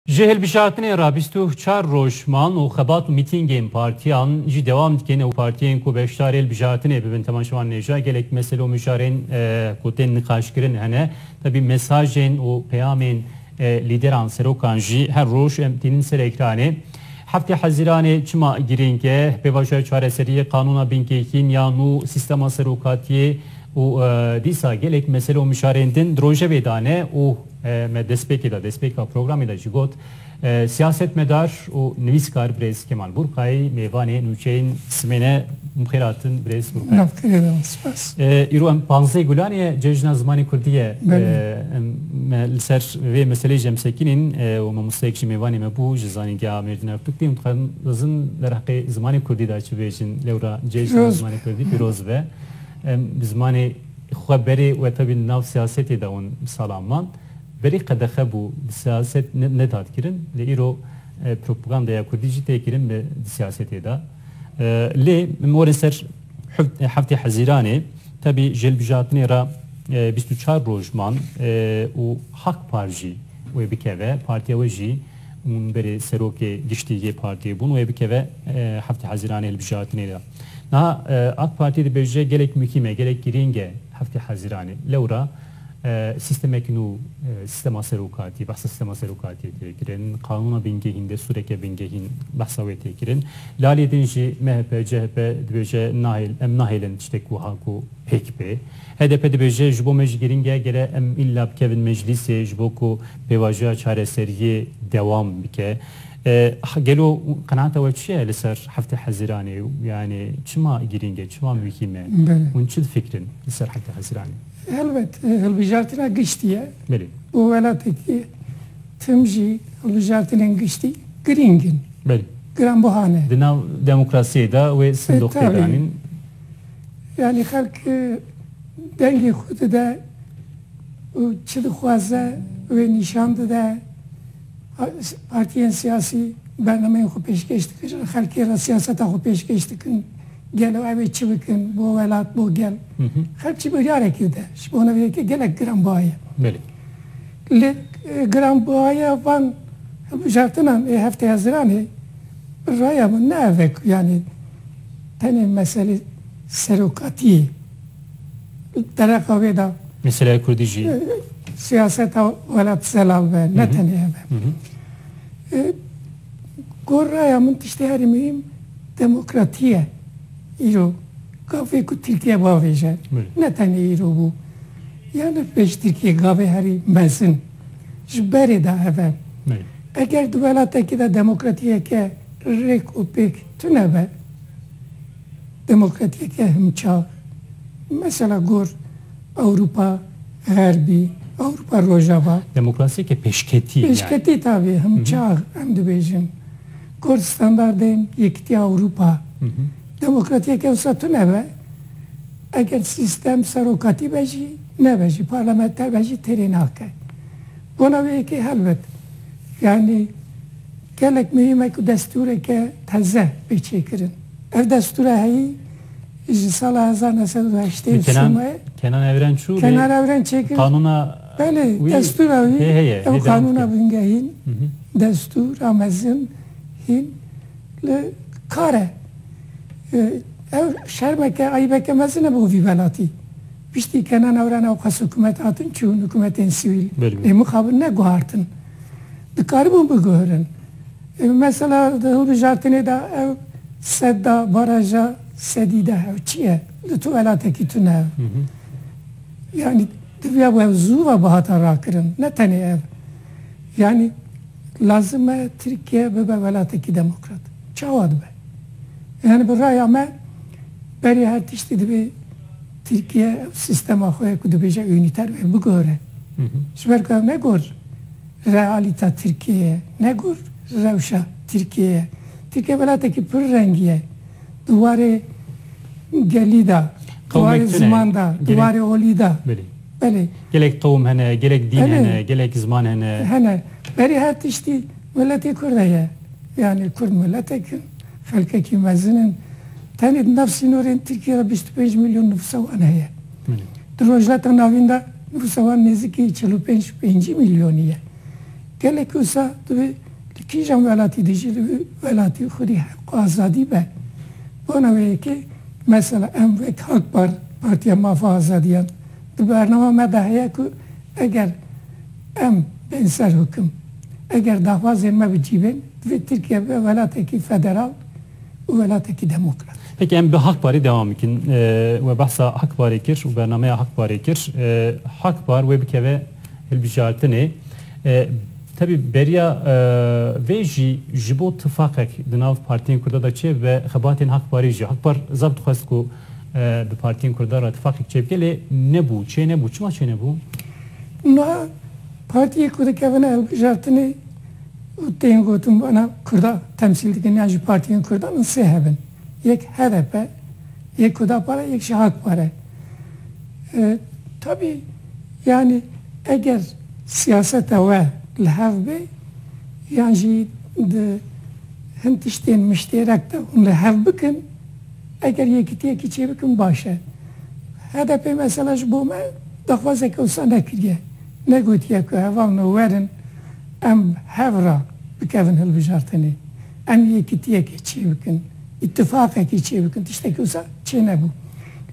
Ji hilbijartinê re bîst û çar roj man û xebat û mîtîngên partiyan jî dewam dikin û partiyên ku beşdarê hilbijartinê bibin tema ji wan nêja gelek mesele û mijarên ku tên niqaşkirin hene. Tevî mesajên û peyamên lîderan serokan jî her roj em tînin ser ekranê. Heftê Hezîranê çima girîng e? Pêvajoya çareseriyê, qanûna bingehîn ya nû, sîstema serokatiyê û dîsa gelek mesele û mijarên din di rojevê de ne û Me destpêkê de, destpêka programê de jî got, siyasetmedar û nivîskar birêz Kemal Burkay mêvanê nûçeyên Simêne mixêratin birêz Burkay. Navtêrêdan spas. Îro em panzdeh gulanê ye cejna zimanê kurdî ye. Me li ser vê meseleyê jî em sekinîn û mamosteyek ji mêvanê me bû ji zanîngeha Mêrdîna Fiqtî û dixwazin derheqê zimanê kurdî de çi bêjin. Lewra cejna zimanê kurdî pîroz be. Em bi zimanê Xwe berê wetebî nav siyasetê de hûn sala man. Berî qedexe bû bi siyaset nedat kirin lê îro propagandaya kurdî jî tê kirin bi siyasetê de. Lê min warê ser heftê hezîranê tebî ji hilbijartinê re bîst û çar roj man û hak par jî wê bikeve partiya we jî hûn berê serokê giştî yê partiyê bûn wê bikeve heftê hezîranê hilbijartinê de. Niha AK Partî dibêje gelek muhîm e, gelek girîng e Heftê Hezîranê. Lewra sîstemekî nû, sîstema serokatî, behsa sîstema serokatiyê tê kirin, qanûna bingehîn, destûreke bingehîn behsa wê tê kirin. Li aliyê din jî MHP, CHP dibêje nahêl, em nahêlin tiştek wiha ku pêk bê. HDP dibêje ji bo me jî girîng e gere em îlla bikevin meclîsê ji bo ku pêvajoya çareseriyê dewam bike. Gelo qenaata we çi ye li ser heftê Hezîranê û yanê çima girîng e, çima muhîm e? Hûn çi difikirin li ser heftê Hezîranê? Helbet hilbijartina giştî ye û welatekî tim jî hilbijartinên giştî girîng in, giranbuha ne. Di nav demokrasiyê de wê sindoq tê danîn. Yanî xelk dengê xwe dide û çi dixwaze wê nîşan dide. Partiyên siyasî bernameyên xwe pêşkêş dikirin, xelkê re siyaseta xwe pêşkêş dikin, gelo ew ê çi bikin bo welat, bo gel. Xelk jî biryarekî dide. Ji bona vê yekê gelek giranbiha ye. Lê giranbihaya van hilbijartinan ê hefteya ziranê bi raya min ne ev e ku yanî tenê meselê serokatiyê. dereqa wê de Meselaya Kurdî jî siyaseta welat zelal be, ne tenê ev e. Gor raya min tiştê herî muhîm demokratî ye îro. Gavê ku Tirkiye biavêje, ne tenê îro bû yanî pêştirkî gavê herî mezin ji berê de ev e. Eger di welatekî de demokratîyeke rêk û pêk tune be, di mulqetiyeke himçav e. Mesela gor Ewropa Xerbî, Ewropa Rojava. Demokrasiyeke pêşketî yani. Pêşketî tabi himçav em dibêjin. Gor standardên Yekîtiya Ewropa. Demokratiyeke wisa tune be eger sîstem serokatî be jî nebe jî parlamenter be jî têrê nake. Bona wê yekê helbet yani. Gelek muhîm e ku destûreke teze bê çêkirin. Ev destûra heyî ji sala hezar neh sed û heştê û sê me Kenan Evren çû lê Kenan Evren çêkir. Qanûna Belê, destûra wî hê heye, ew hê devam qanûna bike. bingehîn, destûr a mezin hîn li kar e. Ew şermeke, eybeke mezin e bo vî welatî. Piştî Kenan Evren ew qas hikûmet hatin çûn, hikûmetên sivîl Belê. lê mixabin ne guhartin. dikaribûn biguhirin. Mesela di hilbijartinê de ew sedda, baraja sedî de ew çi ye? Di tu welatekî tune ew. Yanî diviya wê ew zû ve bihata rakirin. Ne tenê ev. Yanî lazim e Tirkiye bibe welatekî demokrat. Çawa dibe? Yanî bi raya me berê her tiştî divê Tirkiye ev sîstema xwe ye ku dibêje unîter be bigore. Ji ber ku ev ne gor realîta Tirkiyeyê ye, ne gor rewşa Tirkiyeyê ye. Tirkiye welatekî pir rengî ye. Di warê gelî de, di warê ziman de, di warê olî de. Belê. Belê. Gelek qewim hene, gelek dîn hene, gelek ziman hene. Hene. Berî her tiştî miletê kurd heye. Yanî kurd miletek in. Xelkekî mezin in. Tenê di nav sînorên Tirkiyê de bîst û pênc milyon nifûsa wan heye. Di Rojhilata Navîn de nifûsa wan nêzîkî çil û pênc pêncî milyonî ye. Gelek wisa divê li kîjan welatî de jî divê welatî xwedî heq û azadî be. Bona wê ye ke mesela em wek Hak Par, Partiya Mafa Azadiyan di bernama me de heye ku eger, Em bên ser hukim. Eger daxwazên me bi cî bên, divê Tirkiye bibe welatekî federal û welatekî demokrat. Peki em bi Hak Parî dewam bikin. We behsa Hak Parê kir û bernameya Hak Parê kir. Hak Par wê bikeve hilbijartinê. Tevî beriya vê jî ji bo tifaqek di nav partiyên Kurda de çê bibe xebatên Hak Parî jî. Hak Par zaf dixwest ku bi partiyên Kurda re tifaqek çê bike lê nebû. Çê nebû. Çima çê nebû? Niha partiyê ku dikevine hilbijartinê û tên gotin bana Kurda temsîl dikin yan jî partiyên Kurdan in sê hebin. Yek hdp, yek Hudapara, yek jî Hak Pare. Tabî yanî eger siyaseta we li hev bê yan jî di hin tiştên miştêrek de hûn li hev bikin, Eger yekîtiyekî çêbikin baş e. HDP'ê mesela ji bo me daxwazeke wisa nekiriye. Negotiye ku heval no werin em hev re bikevin hilbijartinê. Em yekîtiyekê çêbikin, îtîfaqekê çêbikin tiştekî wisa çênebû.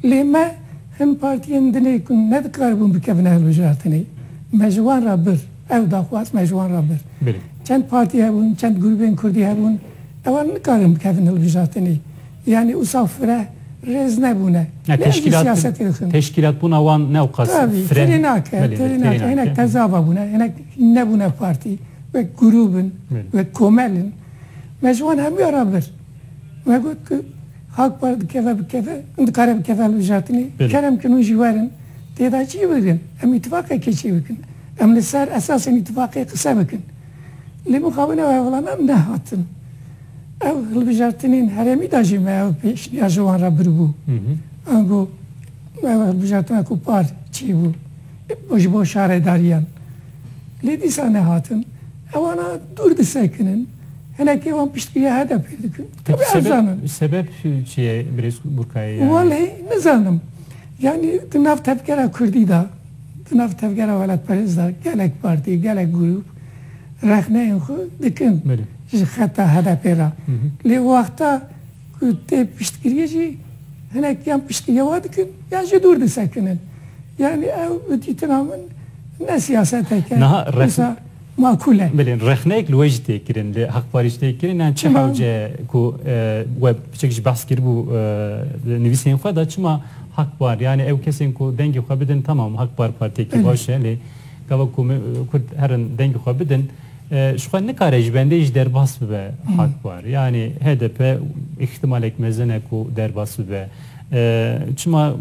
Lê me hin partiyên dinê ku nedikaribûn bikevine hilbijartinê. Me ji wan re bir. Ew daxwaz me ji wan re bir. Çend partî hebûn, çend grûbên kurdî hebûn, heval nikarin bikevin hilbijartinê. Yanî usa fire rêz nebûne. Lê ez jî siyasetê dikim. Teşkîlatbûna wan ne qas fire nake. Tirê nake, tirê nake. Hinek tezava bûne, hinek nebûne partî. Wek grûb in, wek komel in. Me ji wan hemûyan re bir. Me got ku Ak Parti dikeve bikeve, hûn dikare bikeve li Bijatînê. Kerem kin hûn jî werin têda çî bikin. Em îtîfaqekê çê bikin. Em li ser esasên îtîfaqê qise bikin. Lê mixabin ew hevlana nehatin. Ev hilbijartinên herêmî de jî me ew pêşniya ji wan re biribû. Em got ew hilbijartina ku par çê bû ji bo şaredariyan. Lê dîsa nehatin. Ewana dûr disekinin. Hinekî wan piştgiriya HDP'ê dikin. Tevî ev zanin. Sebeb çi ye Birêz Burkayê? Welê nizanim. Yanî di nav tevgera kurdî de, di nav tevgera welatperêz de gelek partî, gelek grûp rexneyên xwe dikin ji xeta HDP'ê re. Lê wexta ku tê piştgiriyê jî hinek yan piştgiriya wan dikin yan jî dûr disekinin. Yanî ew bi dîtina min ne siyaseteke wisa makûl e. Bilin rexneyek li wê jî tê kirin, li Haq Parî jî tê kirin yan çi hewce ye ku we piçek jî behs kiribû li nivîsên xwe de çima Haq Par yanî ew kesên ku dengê xwe bidin temam Haq Par partiyekî baş e lê Gava ku me Kurd herin dengê xwe bidin, ji xwe nikare ji bendê jî derbas bibe Hakpar. Yanî hdp îhtimalek mezin e ku derbas bibe. Çima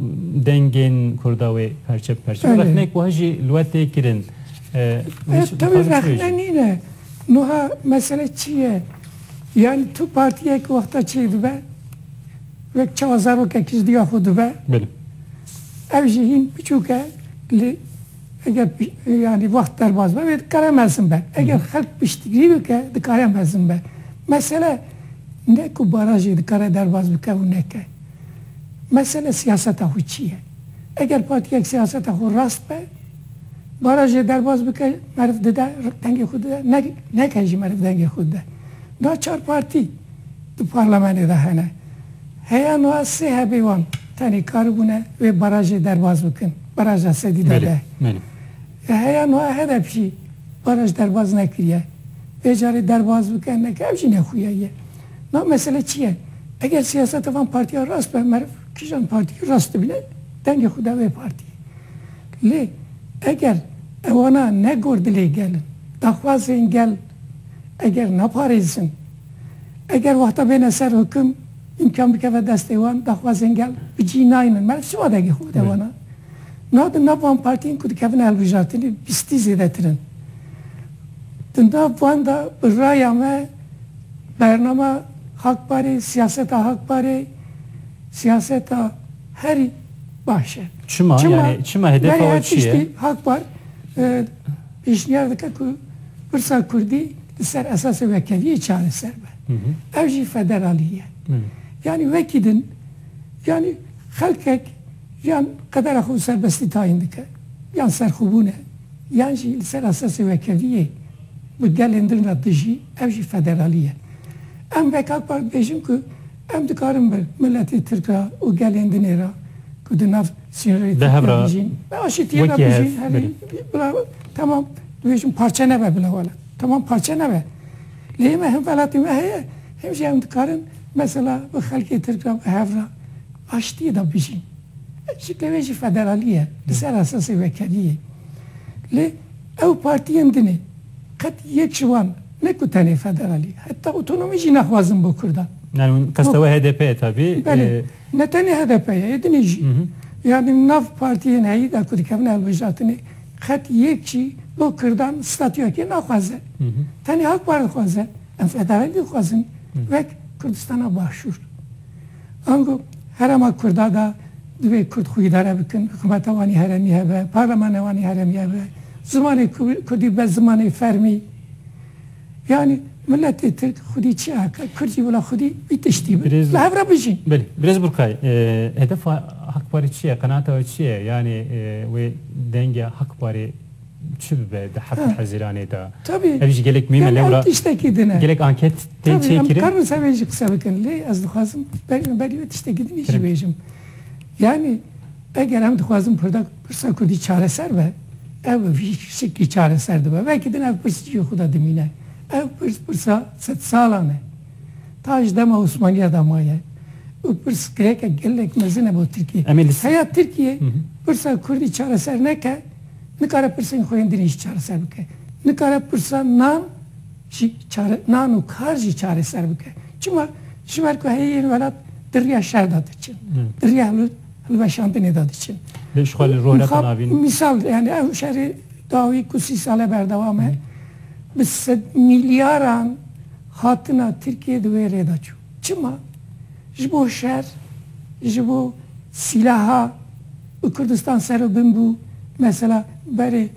dengên Kurda wê perçe bi perçe rexnek wiha jî li we tê kirin. Ev tevî rexne nîne. Wiha mesele çi ye? Yanî tu partiyek wexta çêy dibe, wek çawa zarokek ji diya xwe dibe. Ev jî hîn biçûk e li Eger yanî wext derbas be, wê dikare mezin be. Eger xelk piştgirî bike, dikare mezin be. Mesele ne ku barajê dikare derbas bike û neke. Mesele siyaseta xwe çi ye? Eger partiyek siyaseta xwe rast be, barajê derbas bike meriv dide, dengê xwe dide, neke jî meriv dengê xwe dide. Naçar partî. di parlemenê de hene. Heya nuha sê hebê wan tenê karibûne vê barajê derbas bikin, baraja sedî da deh. Belê. Heya nuha hdp jî baraj derbas nekiriye. Vê carê derbas bike neke ev jî ne xuya ye. Nuha mesele çi ye? Eger siyaseta van partiyan rast be meriv kijan partî rast dibîne dengê xwe da vê partî. Lê eger ewana ne gor dilê gelin, daxwazên gel, eger neparêzin, eger wexta bêne ser hukum îmkan bikeve destê wan, daxwazên gel bi cî naynin. Me ev siwa degê xwe de wana. Niha di nav van partiyên ku dikevine hilbijartinê bîstî zêdetir in. Di nav wan de bi raya me bernama Hak Parê, siyaseta Hak Parê siyaseta herî baş e. Çima? Çima? Yani çima hedefa we çi ye? Berê her tiştî Hak Par pêşniyar dike ku pirsa kurdî li ser esasê wekeviyê çareser be. Ev jî federalî ye. Yanî wekî din yanî xelkek yan qedera xwe bi serbestî tayîn dike, yan serxwebûn e, yan jî li ser esasê wekeviyê bi gelên din re dijî, ev jî federalî ye. Em wek Akpar dibêjin ku Em dikarin bi miletê Tirk re û gelên dinê re ku di nav sînorê Tirkiye de jîn, bi aşîtiyê re bijîn. Herî bila temam dibêjin parçe nebe bila wele. Temam parçe nebe. Lê me him welatê me heye, him jî em dikarin mesela bi xelkê Tirk re bi hev re aşîtiyê de bijîn. Ev jî tevê jî federalî ye li ser esasê wekeriyê. Lê ew partiyên din ê. Qet yek ji wan ne ku tenê federalî heta otonomî jî nexwazin bo kurdan. Yani hûn qesta we HDP ye tabî. Belê. Ne tenê HDP ye, ê din ê jî. Yani nav partiyên heyî de ku dikevin hilbijartinê qet yek jî bo kurdan statuyekê naxwaze. Tenê Akpar dixwaze. Em federalî dixwazin wek Kurdistana Başûr. Ango herema kurda de divê kurd xwe îdare bikin, hikûmeta wan ê heremî hebe, parlemana wan ê heremî hebe, zimanê kurdî be zimanê fermî. Yanî miletê tirk xwedî çi eke, kurd jî wila xwedî vî tiştî be. Li hev re bijîn. Belê. Birêz Burkay, hedefa Hak Parî çi ye, qenaata we çi ye? Yanî wê dengê Hak Parî Çi bibe di heftê hezîranê de? Tabî. Ev jî gelek muhîm e. Lewra. Ev tiştekî din e. Gelek anket tên çêkirin. Tabî em dikarin ser vê jî qise bikin. Lê ez dixwazim beriya berî wê tiştekî din jî bêjim. Yanî eger em dixwazin pirda pirsa kurdî çareser be, ew bi vî şeklî çareser dibe. Vekî din ev pirs cihê xwe de dimîne. Ev pirs pirsa sed salan e. Ta ji dema Osmaniya de maye. Û pirs girêkek gelek mezin e bo Tirkiyê. Heya Tirkiyê pirsa kurdî çareser neke, Nikare pirsên xwe yên din jî çareser bike. Nikare pirsa nan jî çare nan û kar jî çareser bike. Çima? Ji ber ku heyî yên welat di riya şer de diçin. Di riya hilweşandinê de diçin. Lê ji xwe li rû netin avîn. Mîsal yani ew şerê dawî ku sî sal e berdewam e bi sed mîlyaran hatina Tirkiyê di wê rê de çû. Çima ji bo şer, ji bo sîlaha bi Kurdistan ser û bin bû? Mesela berê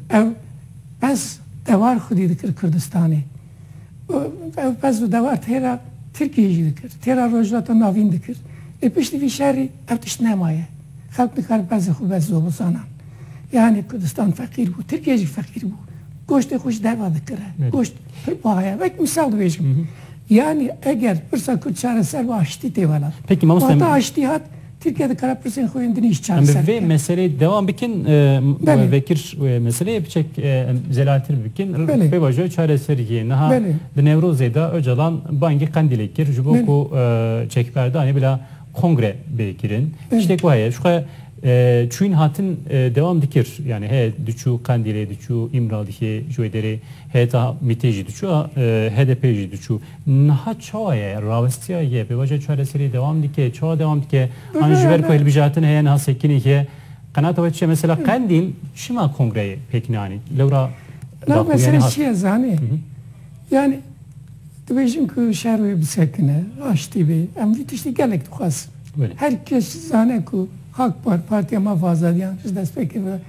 ew pez dewar xwedî dikir Kurdistanê. Ew pez û dewar têra Tirkiyeyê jî dikir, têra Rojhilata Navîn dikir. Lê piştî vî şerî ev tişt nemaye. Xelk nikarin pezê xwe bes zobozanan. Yanî Kurdistan feqîr bû, Tirkiye jî feqîr bû. Goştê xwe ji derve dikire. Goşt pir buha ye. Wek mîsal dibêjim. Yanî eger pirsa Kurd çareser ba aştî tê wela. Peki mamosta em. Wata aştî hat, Tirkiye dikare pirsên xwe yên din îş çareser bike. Em bi vê meseleyê dewam bikin we vekir wê meseleyê biçek em zelahtir bikin. Pê vajo çareserî yê. Niha di Newrozê de Ocalan bangê Qendîlê kir ji bo ku çekberdanê bila kongre bê kirin. Tiştê ku heye ji xwe Çûyîn hatin dewam dikir. Yanî heye diçû Qendîlê diçû Îmraliyê ji wê derê heyeta MÎTê jî diçû a HDP'ê jî diçû. Niha çawa ye? Rawestiya ye? Pêvajoya çareseriyê dewam dike? Çawa dewam dike? An ji ber ku hilbijartin heye niha sekinî ye? Qenata we çi ye? Mesela Qendîl çima kongreyê pêk neanî? Lewra daxuyanî hat. Meselê çi ye zanî? Yanî Dibêjin ku şer wê bisekine, aştî bê. Em vî tiştî gelek dixwazin. Her kes dizane ku Ak Par, Partiya Maf û Azadiyan ji destpêkê ve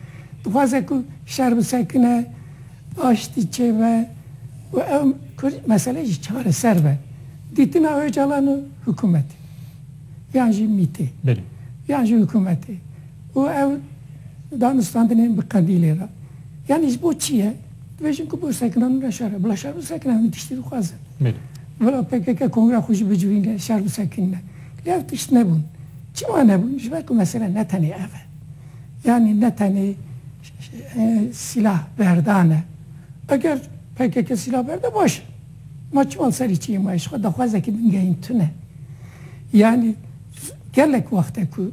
dixwaze ku şer bisekine, aştî çêbe û ew mesele jî çareser be. Dîtina Ocalan û hikûmetê yan jî MÎT'ê yan jî hikûmetê û ew danûstandinên bi qedîlê re yanî ji bo çi ye? Dibêjin ku bo sekina min re şer e. Bila şer bisekine hemû tiştî dixwazin. Bila pkk kongreya xwe jî bicivîne şer bisekinîne. Lê ev tişt nebûn. Çima nebûn? Ji ber ku mesele ne tenê ev e. Yanî ne tenê sîlah berdan e. Eger pkk sîlah berde baş e. Ma çima li serê çiyê ma ye? Ji xwe daxwazekî bingehîn tune. Yanî gelek wexte ku.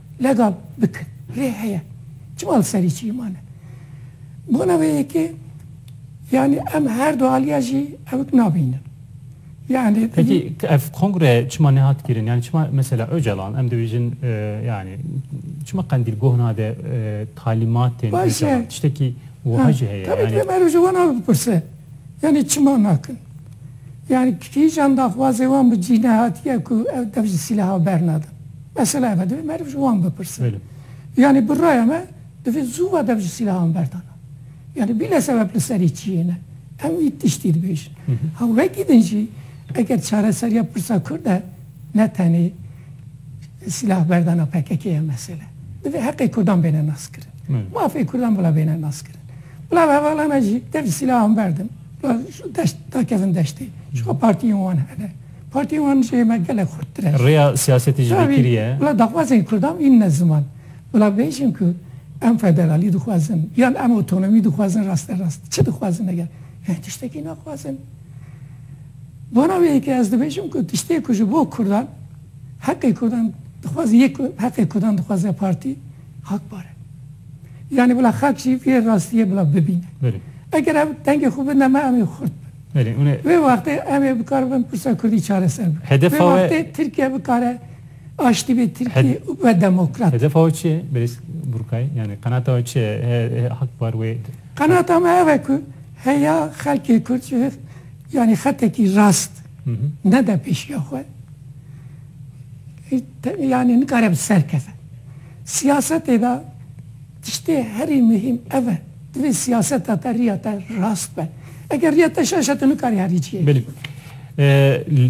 Legal bikin. Lê heye. Çima li serî çî mane? Bona vê yekê yanî em her du aliya jî ewt nabînin. Yani Peki ev kongre çima nehat kirin? Yani çima mesela Öcalan em dibêjin e, yani çima Qendîl goh nade e, talîmatên Baş e. Öcalan tiştekî wiha jî heye. Tabii ki Yani Ömer Öcalan abi birse. Yani çima nakin. Yanî kîjan daxwazê wan bi cî nehatiye ku ew dev ji sîleha bernadin. Mesela ev e divê meriv ji wan bipirse. Yanî bi raya me divê zû ve dev ji sîlehan berdana. Yanî bîle sebeb li serî çi yê ne. Em wî tiştî dibêjin. Ha wekî din jî eger çareseriya pirsa Kurd e ne tenê sîleha berdana pkk ye mesela. Divê heqê Kurdan bêne naskirin. Mafê Kurdan bila bêne naskirin. Bila hevalana jî dev ji sîlehan berdin. Deşt dakezin deştê. Çiqa partiyên wan hene. Partiyên wan jê me gelek xurttir e. Rêya siyasetê jî vê kirî ye. Bila daxwazên kurdan î ne ziman. Bila bêjin ku em federalî dixwazin yan em otonomî dixwazin raste rast çi dixwazin eger em tiştekî naxwazin. Bona wê yekê ez dibêjim ku tiştê ku ji bo kurdan heqê kurdan dixwaz yek heqê kurdan dixwaze partî. hak bar e. Yanî bila xelk jî vê rastiyê bila bibîne. Eger ew dengê xwe bidine me em ê xurt bin. Vê wextê em ê bikar bin pirsa kurdî çareser bikin. Vê wextê Tirkiye bikare aştî bê Tirkî û be demokrat. Hedefa we çi ye berîz Burkay? Yanî qenata we çi ye hak bar wê? Qenata me ev e ku heya xelkê kurd ji vir yanî xetekî rast nede pêşiya xwe. Yanî nikare bi ser keve. Siyasetê de tiştê herî muhîm ev e. Divê siyaseta te riya te rast be. Eger riya te şaş e tu nikarî herî cihê bikî. Belê.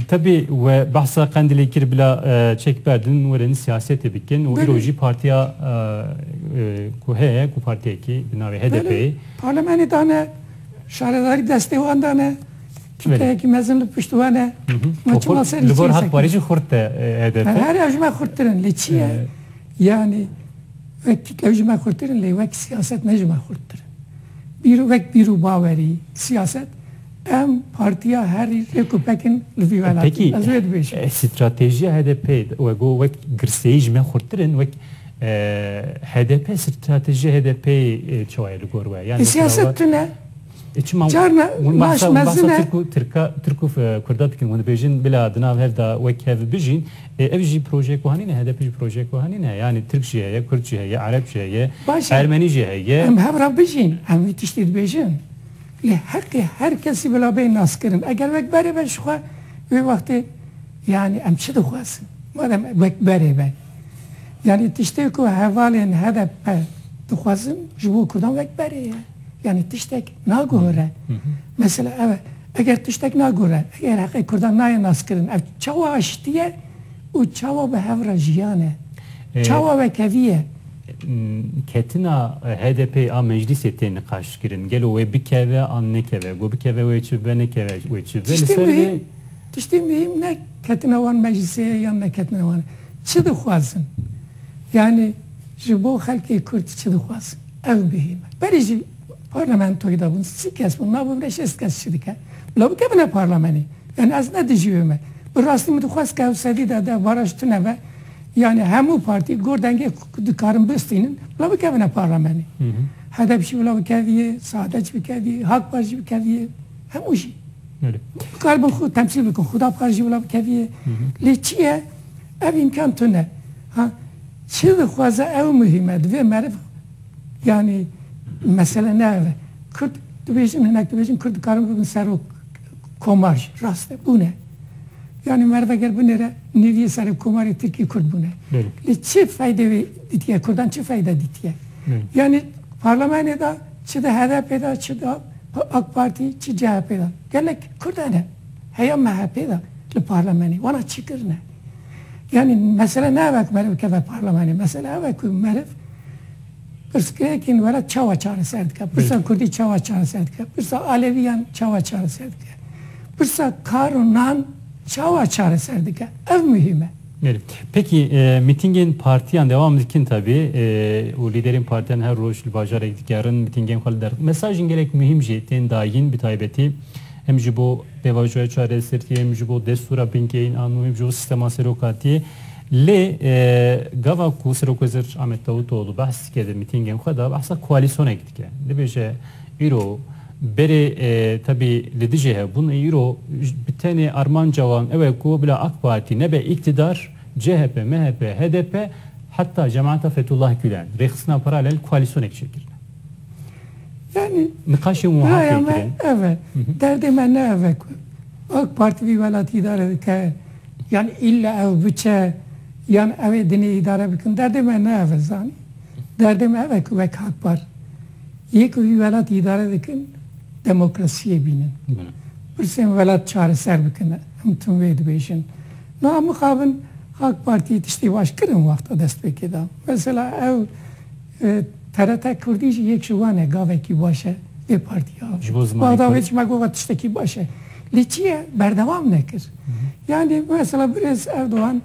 Tevî we behsa Qendilê kir bila çek berdin werin siyasetê bikin û îro jî partiya ku heye ku partiyekî bi navê HDP'ê. Belê. Parlemenê dane, şaredarî destê wan dane. Çîkeyekî mezin li pişt wan e. Ma çima serî Li gor Hak Parî jî xurt e HDP. Her ew ji me xurttir in. Lê çi ye? Yanî wek tîklev ji me xurttir in lê wek siyaset ne ji me xurttir in. Bîr wek bîr û bawerî siyaset em partiya herî rêk û pek in li vî welatî. Ez wê dibêjim. Pekî stratejiya HDP'ê we got wek girseyî ji me xurttir in wek HDP stratejiya HDP'ê çawa ye li gor we? Siyaset tune. E çima Carna hûn baş bahsa hûn bahsa mezin e. Tirk û Tirka Tirk û e, Kurda dikin hûn dibêjin bila di nav hev da wek hev bijîn. E, ev jî projeyek wiha nîne, HDP jî projeyek wiha nîne. Yanî Tirk jî heye, Kurd jî heye, Ereb jî heye, Baş e. Ermenî jî heye. Em hev re bijîn, em wî tiştî dibêjin. Lê heqê her kesî bila bê naskirin. Eger wek berê be ji xwe, wê wextê yanî em çi dixwazin? Madem wek berê be. Yanî tiştê ku hevalên hdp dixwazin ji bo kurdan wek berê ye. Yanî tiştek naguhore. Mesela ev e. Eger tiştek naguhore, eger heqê kurdan nayê naskirin, ev çawa aştî ye û çawa bi hev re jiyan e? Çawa wekevî ye? Ketina HDP'ê a meclîsê tê niqaşkirin. Gelo wê bikeve an nekeve? Got bikeve wê çi bibe nekeve wê çi bibe. Li ser vê Tiştê muhîm ne ketina wan meclisê ye yan neketina wan e. Çi dixwazin? Yanî ji bo xelkê Kurd çi dixwazin? Ev muhîm e. Berê ji parlamentoyê de bûn sî kes bûn, ma bimre şêst kes çi dike? Bila bikevine parlamenê. Yanî ez ne dijî wê me. Bi rastî min dixwest ke ew sedî de de baraj tune be. Yanî hemû partî gor dengê ku dikarin bistînin bila bikevine parlamenê. Hdp jî bila bikevîyê, Saadetjî bikevîyê, Hakpartî jî bikevîyê. Hemû jî dikaribin xwe temsîl bikin, xuda bikare jî bila bikevîyê. Lê çi ye ev îmkan tune. Ha çi dixwaze ew muhîm e. Divê meriv yanî mesele ne ev e. Kurd dibêjin hinek dibêjin kurd dikarin bibin serok komar jî. Rast e bûne. Yanî meriv eger binêre nêvîyê serok komarê tirkî kurd bûne. Lê çi feydê wê dîtiye kurdan çi feyde dîtiye. Yanî parlamenê de çi di HDP'ê de çi di Bi AK Partî çi CHP'ê de? Gelek Kurd hene heya MHP'ê de li parlamenê wana çi kirine? Yanî mesele ne ev e ku meriv bikeve parlamenê, mesele ev e ku meriv pirsgirêkên were çawa çareser dike? Pirsa Kurdî çawa çareser dike? Pirsa Aleviyan çawa çareser dike? Pirsa kar û nan çawa çareser dike? Ev muhîm e. Belê. Pêkî mîtîngên partiyan dewam dikin tevî û lîderên partiyan her roj li bajarek digerin mîtîngên xwe li der. Mesajên gelek muhîm jî tên dayîn bi taybetî hem ji bo pêvajoya çareseriyê hem ji bo destûra bingehîn an û hem ji bo sîstema serokatiyê. Lê gava ku Serokwezîr Ahmet Davûtoglû behs dike di mîtîngên xwe de behsa koalîsyonek dike. Dibêje îro berê tebî li dijê hebûn ê îro bi tenê armanca wan ew e ku bila AK Partî nebe îktidar, chp, MHP, hdp heta Cemaeta Fethullah Gulen rêxistina paralel koalîsyonek çêkirine. Yanî niqaşên wiha tê kirin. Ev e. Derdê me ne ev e ku AK Partî vî welatî îdare dike yan îlle ew biçe yan ew ê dinê îdare bikin. Derdê me ne ev e zanî. Derdê me ev e ku wek Hakpar yê ku vî welat îdare dikin demokrasiyê bînin. Pirsên welat çareser bikin. Em tim wê dibêjin. Niha mixabin Ak Partiyê tiştê baş kir in wexta destpêkê da. Mesela ew TRT Kurdî jî yek ji wan e gavekî baş e vê partiya. Ji bo zimanê Kurd. Bexda wê çima got tiştekî baş e. Lê çi ye berdewam nekir. Yanî mesela birêz Erdogan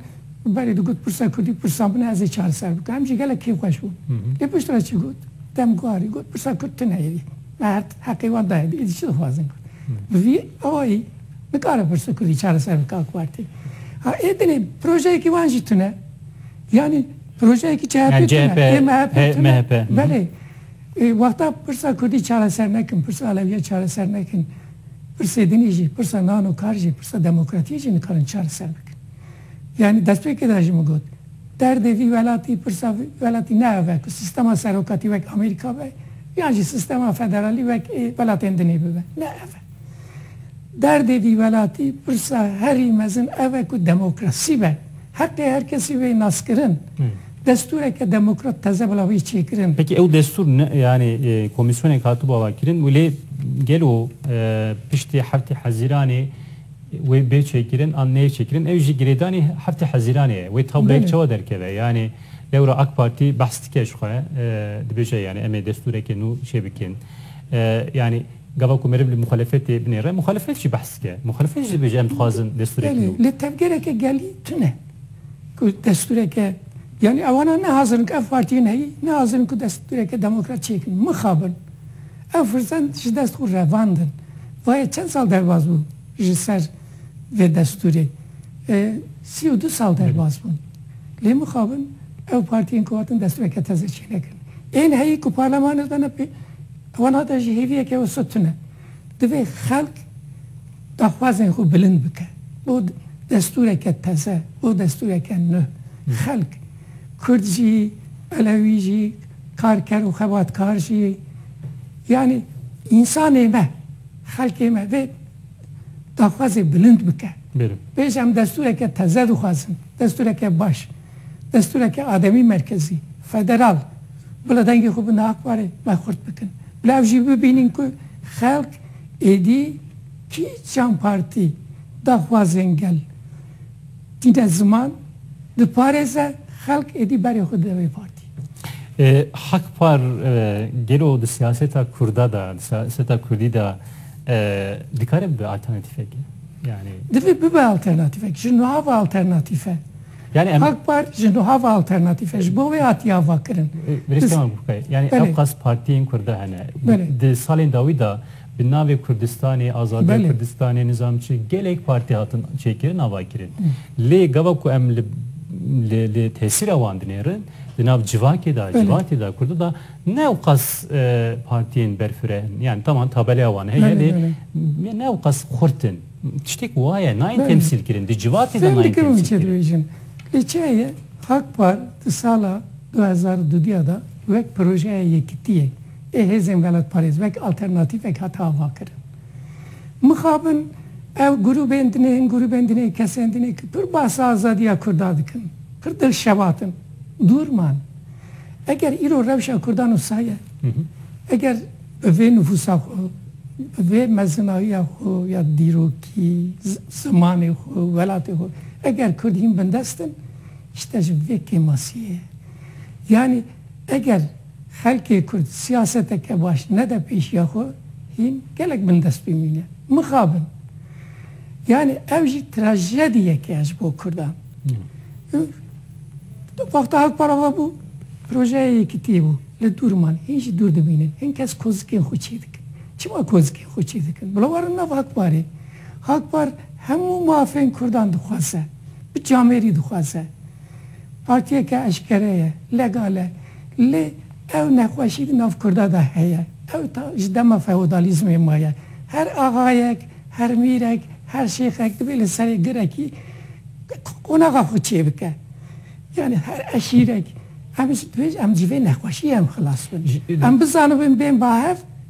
Berê digot pirsa Kurdî pirsa min e ez ê çareser bikim. Em jî gelek kêfxweş bûn. Lê piştre çi got? Demguarî got pirsa Kurd tune ye. Merd heqê wan daye êdî çi dixwazin got. Bi vî awayî nikare pirsa Kurdî çareser bike AK Partî. Ha ê dinê projeyekî wan jî tune. Yanî projeyekî CHP'ê tune ê MHP'ê tune. Belê wexta pirsa Kurdî çareser nekin, pirsa Alewîyê çareser nekin, pirsê dinê jî, pirsa nan û kar jî, pirsa demokratîyê jî nikarin çareser bikin. Yanî destpêkê de jî min got, derdê vî welatî, pirsa vî welatî ne ev e ku sîstema serokatî wek Amerîka be yan jî sîstema federalî wek ê welatên din ê bibe. Ne ev e. Derdê vî welatî, pirsa herî mezin ev e ku demokrasî be, heqê her kesî wê naskirin, destûreke demokrat teze bila wê çêkirin. Peki ew destûr ne yanî komîsyonek hatibû avakirin û lê gelo piştî heftê Hezîranê Wê bê çêkirin an neyê çêkirin ew jî girêdanî heftê Hezîranê ye. Wê tableyek çawa derkeve? Yanî lewra AK Partî behs dike ji xwe, dibêje yanî em ê destûrekê nû çêbikin. Yanî gava ku meriv li muxalefetê binêre, muxalefet jî behs dike. Muxalefet jî dibêje em dixwazin destûrek nû. Li tevgereke gelî tune ku destûreke yanî ewana ne hazir in ku ev partiyên heyî ne hazir in ku destûreke demokrat çêkin. Mixabin. Ev firsend ji dest xwe revand in. Va yê çend sal derbas bû ji ser vê destûrê? Sî û du sal derbas bûn. Lê mixabin ew partiyên ku hatin destûreke teze çênekin. Ên heyî ku parlemanê de ne pê wan hate ji hêviyeke wisa tune. Divê xelk daxwazên xwe bilind bike bo destûreke teze, bo destûreke nû. Xelk, Kurd jî, Elewî jî, Karker û xebatkar jî yanî însanê me, xelkê me vê daxwazê bilind bike. Bêje em destûreke teze dixwazin, destûreke baş, destûreke ademî merkezî, federal. Bila dengê xwe bi na ak warê me xurt bikin. Bila ev jî bibînin ku xelk êdî kîjan partî daxwazên gel. Tîne ziman diparêze xelk êdî berê xwe dide wê partî. Hak par gelo di siyaseta kurda de di siyaseta kurdî de dikare bibe alternatîfekê? Yani Divê bibe alternatîfek ji niha ve alternatîfe. Yani em Hak par ji niha ve alternatîfe ji bo wê hatiye avakirin. Birêz kema bûke. Yani Belê. ew qas partiyên kurda hene. Belê. Di salên dawî de Bi navê Kurdistanê, azadiya Belê. Kurdistanê, nizam çi gelek partî hatin çêkirin avakirin. Lê gava ku em li li li tesîra wan dinêrin di nav civakê de, civatê de, kurdi de ne ewqas e, partiyên berfireh in. Yani taman tabeleya wan heye Belê, lê belê. m- ne ewqas xurt in. Tiştek waye nayên Belê. temsîl kirin. Di civatê de Fêm nayên dikim temsîl kirin. çêdibêjin. Lê çi heye Akpar di sala du hezar û du diya de wek projeya yekitiyê Ê hêzên welatparêz wek alternatîfek hate avakirin. Mixabin ew grûbên din ên grûbên din ên kesên din ên ku pir bahsa azadiya Kurda dikin, pir dilşebat in, dûr man. Eger îro rewşa Kurdan wisa ye, eger bi vê nifûsa xwe, bi vê mezinayiya xwe ya dîrokî, zimanê xwe, welatê xwe, eger Kurd hîn bindest in, îşte ji vê kêmasiyê ye. Yanî eger. Xelkê Kurd siyaseteke baş nede pêşiya xwe, hîn gelek bindest bimîne. Mixabin. Yanî ev jî trajediyeke ye ji bo Kurdan. Wexta Halk Para ve bû, projeye yekitiyê bû. Li dûr man. Hîn jî dûr dimînin. Hin kes kozikên xwe çê dikin. Çima kozikên xwe çê dikin? Bila werin nav Halk Parê. Halk Par hemû mafên Kurdan dixwaze. Bi camêrî dixwaze. Partiyeke eşkere ye. Legale. Lê ew nexweşî di nav kurda de heye. Ew ta ji dema feodalîzmê maye. Her axayek, her mîrek, her şêxek divê li serê girekî qonaxa xwe çêbike. Yanî her eşîrek. Em ji vê nexweşiyê em xilas bin. Em bizanibin bên bahev.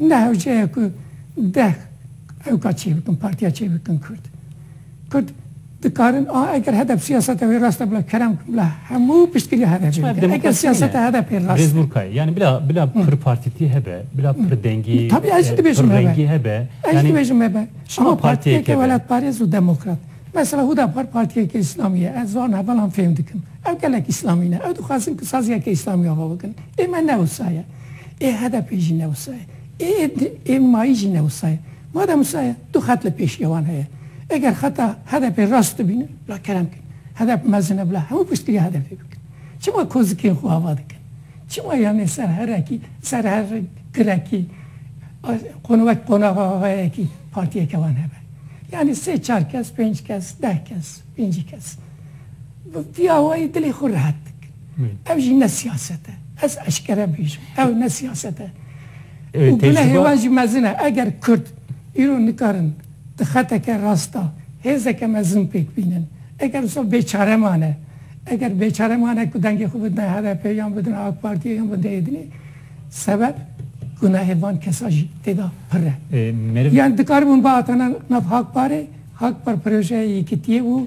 ne hewceya ku deh hewka çêbikin, partiya çêbikin Kurd. Kurd dikarin a eger HDP siyaseta wê rast e bila kerem bikin, bila hemû piştgiriya HDP'ê Çima bikin. Eger demokrasî nîne? siyaseta HDP'ê rast Birêz e. Burkay, yanî bila bila pirpartîtî hebe, bila pirdengî, Tabii ez jî dibêjim hebe. pirrengî hebe. Ez jî Yanî dibêjim hebe. Çima Ama partiyeke partiyeke be? welatparêz û demokrat. Mesela Hudapar partiyeke îslamî ye. Ez van hevalan fêm dikim. Ew gelek îslamî ne. Ew dixwazin ku saziyeke îslamî ava bikin. Ê me ne wisa ye. Ê HDP'ê jî ne wisa ye. Ê MA'yî jî ne wisa ye. Madem wisa ye, du xet li pêşiya wan heye. Eger xeta HDP'ê rast de bîne, bila kerem bikin. HDP mezin e, bila hemû piştgirî HDP'ê bikin. Çima kozikên xwe ava dikin? Çima yanê ser herekî, ser her girekî, wek qonaxa avayekî partiyeke wan hebe? Yanê sê çar kes, pênc kes, deh kes, pêncî kes. Muftiya wayî dilê xwe rihet dikin. Ev jî ne siyaset e. Ez eşkere bêjim, ew ne siyaset e. Û gunehê wan jî mezin e. Eger kurd îro nikarin di xeteke rast de hêzeke mezin pêk bînin, eger wisa bêçare mane, eger bêçare mane ku dengê xwe bidine HDP'ê yan bidine AK Partî'ê yan bidine êdinê, sebeb gunehê van kesan jî tê de pir e. Yan dikaribûn bihatine nav Hakparê, Hakpar projeyê yekîtiyê bû.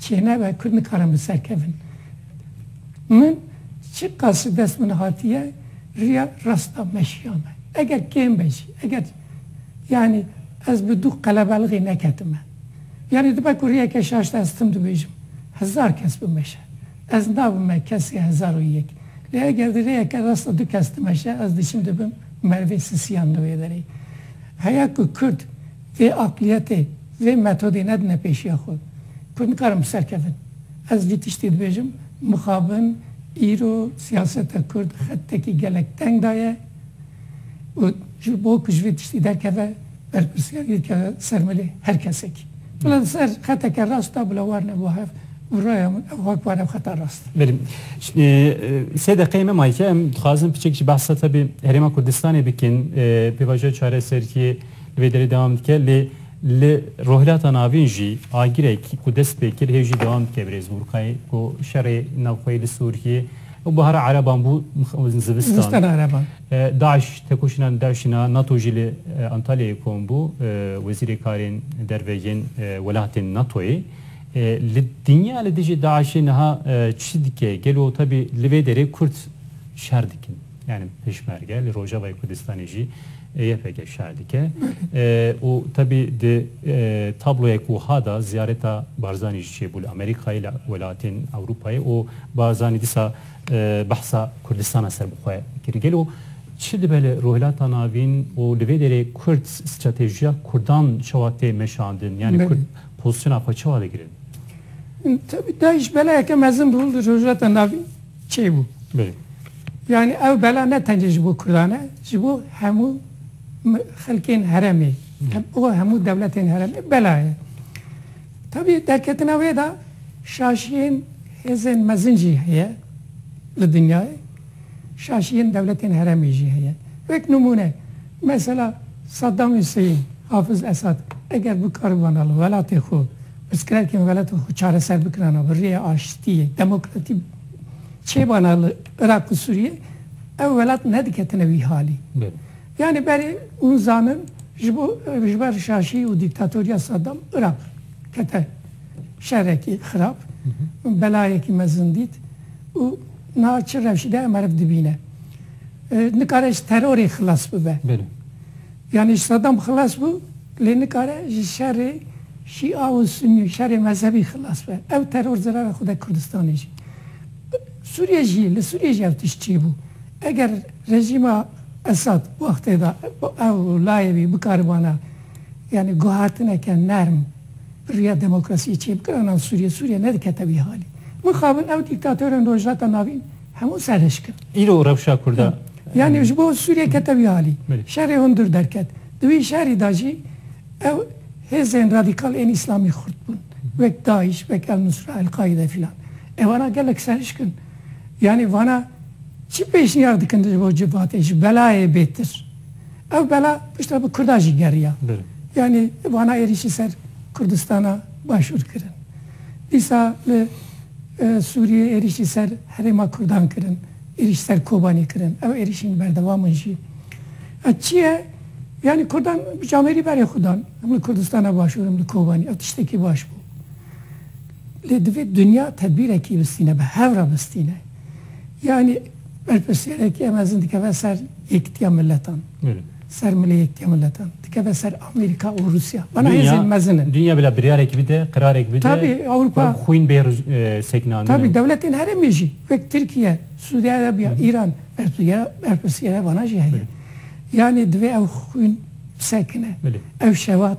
Çêneve ku nikarin bi ser kevin. Min çi qas li dest min hatiye riya rasta meşiya me. Eger kêm be jî, eger yanî ez bi du qelebelixî neketime. Yanî dibe ku riyeke şaşte ez tim dibêjim, hezar kes bimeşe. Ez nabime kesê hezar û yek. Lê eger di riyeke rasta du kes dimeşe ez diçim dibim merivê sisiyan li wê derê. Heya ku kurd. Vê aqliyetê, vê metodê nedine pêşiya xwe. Ku nikarin bi ser kevin. Ez vî tiştê dibêjim, mixabin îro siyaseta kurd xettekî gelek teng daye û ji bo ku ji vê tiştî derkeve berpirsiyariyê dikeve ser milê her kesekî. Bila li ser xeteke rast da bila war ne bo hev û raya min ew ha ku war ev xeta rast e. Belê. Sê deqeyê me maye. Em dixwazin piçek jî behsa taybê Herêma Kurdistanê bikin, pêvajoya çareseriyê. Li vê derê dewam dike lê li Rojhilata Navîn jî agirek ku dest pê kir hê jî dewam dike birêz Gurkay ku şerê navxweyî li Sûriyê û bihara ereban bû zivistan DAIŞ tekoşîna DAIŞ'in a nato jî li Antalyayê kom bû wezîrê karên derve yên welatên natoyê li dinya li dijî DAIŞ'ê niha çi dike gelo tevî li vê derê kurd şer dikin? yanî pêşmerge li Rojavayê Kurdistanê jî YPG şer dike û tevî di tabloya ku wiha de ziyareta Barzanî jî çêbû li Amerîkayê li welatên Ewropayê û Barzanî dîsa behsa Kurdistana ser bi xwe kir. Gelo çi dibe li Rojhilata Navîn û li vê derê Kurd stratejiya Kurdan çawa tê meşandin yanî Kurd pozîsyona xwe çawa digirin? Tevî Daîş belayeke mezin bû li Rojhilata Navîn. Çê bû. Yanî ew bela ne tencî ji bo Kurdan e, ji bo hemû xelkên heremê û hemû dewletên heremê bela ye. Tevî derketina wê de şaşiyên hêzên mezin jî heye li dinyayê, şaşiyên dewletên heremê jî heye. Wek nimûne mesela Saddam Hussein, Hafiz Esad eger bikaribûna li welatê xwe Pirsgirêkên welat û xwe çareser bikirana bi rêya aştiyê, demokratî çêbana li Iraq û Sûriyê ev welat nediketine wî halî. Yanî berê hûn zanin ji bo ji ber şaşî û dîktatoriya Saddam Iraq kete şerekî xirab, belayekî mezin dît û niha çi rewşî de meriv dibîne. Nikare ji terorê xilas bibe. Yanî Sadam xilas bû, lê nikare ji şerê Şîa û Sunî û şerê mezhebî xilas be. Ew teror zirave xwede Kurdistanê jî. Sûriyê jî, li Sûriyê jî ev tişt çêbû. Eger rejîma Esad wextê de ew layê wî bikaribana yanî guhatineke nerm bi riya demokrasiyê çêbikirana Sûriyê, Sûriye nedikete wî halê. Mixabin ew dîktatorên Rojhilata Navîn, Hemû serhişk in. Îro rewşa Kurda. Yanî ji bo Sûriyê kete wî alî. Şerê hundir derket. Di wî şerî de jî ew hêzên radîkal ên îslamî xurt bûn. Wek Daîş, wek El-Nusra, El-Qaîde filan. Evana gelek serhişk in. Yanî vana çi pêşniyar dikin ji bo civatê, ji belayê bêtir? Ew bela piştre bi Kurda jî geriya. Yanî vana êrîşî ser Kurdistana Başûr kirin. Dîsa li Sûriyê êrîşî ser herêma Kurdan kirin, êrîş ser Kobanî kirin, ew êrîşîn berdewam in jî. Ev çi ye? Yanî Kurdan bic amêrî berê xwe dan. Em li Kurdistana Başûr in, li Kobanî ev tiştekî baş bû. Lê divê dinya tedbîrekî bistîne, bi hev re bistîne. Yani berpirsiyareki em mezin dikeve ser yekitiya miletan. Ser milê yekitiya miletan. Dikeve ser Amerika û Rusya. Bana hêzên mezin in. Dünya bila biryarek bide, qirarek bide. Tabi Avrupa. Xwîn bê e, seknandin. Tabi devletên herêmê jî wek Tirkiye, Suudi Arabiya, İran berpirsiyare bana jî heye. Yani divê ew xwîn bisekine. Ev şevat